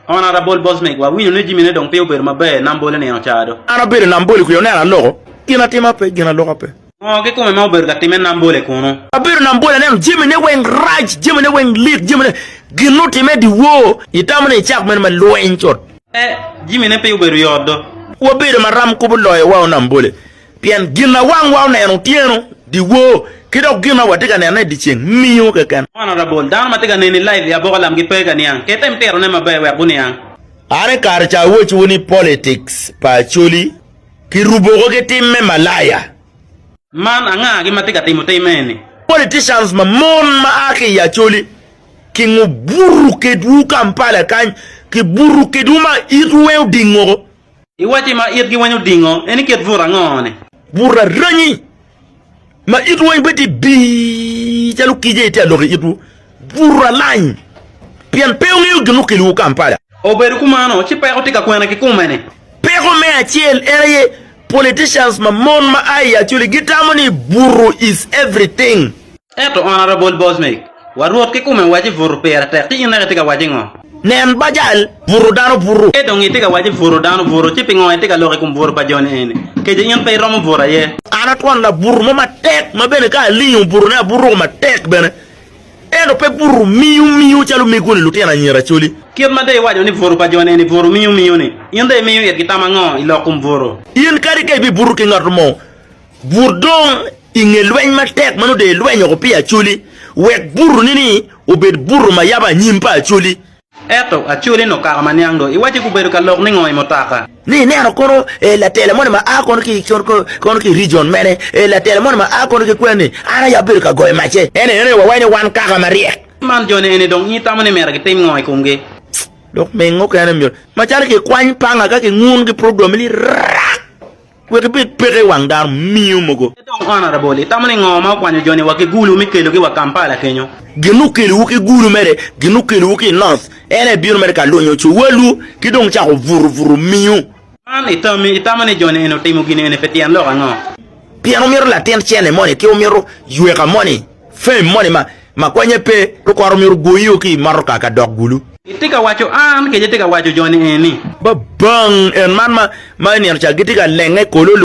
On ara bol Bosnek, wa winyo ni jimine dong pe obedo maber, nam bol enino caa do. An abedo nam bol i kwiyo neno aloko, gin atima pe, gin aloka pe. Ngo kikome ma obedo ka time nam bol e kunu? Abedo nam bol aneno jamine weng rac, jamine weng lit, jamine gin otime diwor, itamo ni icak mene me lweny cut. Pe, jimine pe obedo yot do. Wabedo maram kubo loyo wa o nam bole. Pien gin ma wangwa oneno otyeno, dyewor, ki dok gin ma watye ka nenone i dyeceng, miyo keken. Man aye labol dano ma tye ka neni laiv i aboka lamgi pe ka niang. Kitem tirone maber wek guniang. An i kare ca awecciwu ni politics pa Acholi ki ruboko ki tim me malaya. Man anga gi ma tye ka timo tim eni? Politicians ma mon ma a ki i Acholi ki ngo buto kedwu Kampala kany, ki buto kedwu ma itwu weng oding woko. I wacci ma itgi weny odingo en i kit but ango-ni? But aranyi ma itwu weny bedo bii calo kic aye tye ka lok i itwu. But alany pien pe wungeyo gin okelowu Kampala. Obedo kumano, ci peko tye ka kwene ki kome-ni. Peko me acel en aye politicians ma mon ma a i Acholi gitamo ni Butu is everything. Ento on ara bol bos meg, wa Rwot kikume waci butu pira tek, ci in naka itye ka waci ngo? Nen bajal butu dano butu. Ci dong itye ka waci butu dano butu, ci pingo itye ka lok i kom butu pa joni eni? Keco in pe iromo butu aye. An atwon labutu mo matek, ma bene ka alingo butune abutuko matek bene, ento pe butu miu miu calo omegoni lutino anyira coli. Kit ma dong iwaco ni butu pa joni eni butu miu miu-ni, in dong imiyo itgi tam ango i lok kom butu? In kadi ka ibibutu ki ngat mo, But dong i nge lweny matek ma nongo ilwenyo woko pi Acholi, wek butoni-ni obed buto ma yabo anyim pa Acholi. Ento Acholi-ni okako ma niang dong iwacce gubedo ka lok ningo i mutoka. Ni ineno kono latela moni ma a kono ki i rijion mene, latela moni ma a kono ki kweni, an aye abedo ka goyo macce. Ento ineno ni wawenyo wan kaka maryek. Man joni eni dong in itamo ni myero gitim ngo i komgi? Lok mege mukene myero, macalo kikwany panga ka kingun ki program-mi ni rak. Wek ibed peke i wang dano miyo mogo. Ento Okwano Araboli, itamo ni ngo ma okwanyo joni wa ki Gulu me kelogi wa Kampala kenyo? Gin ma okelowu ki Gulu mere gin ma okelowu ki i North, en aye bino mere ka lunyo cowalwu ki dong cako buto buto miu. Man i tammi, itamo ni joni eni otimo gin eni pi tyen lok ango? Pien omito latin cene moni ki omito yweka moni? Fame moni ma ma konye pe, lukwaro myero gwoyi o ki i motoka ka dok gulu. Itye ka waco an kece tye ka waco joni eni. Ba bang en man ma ma inino ca gitye ka lenge kololo.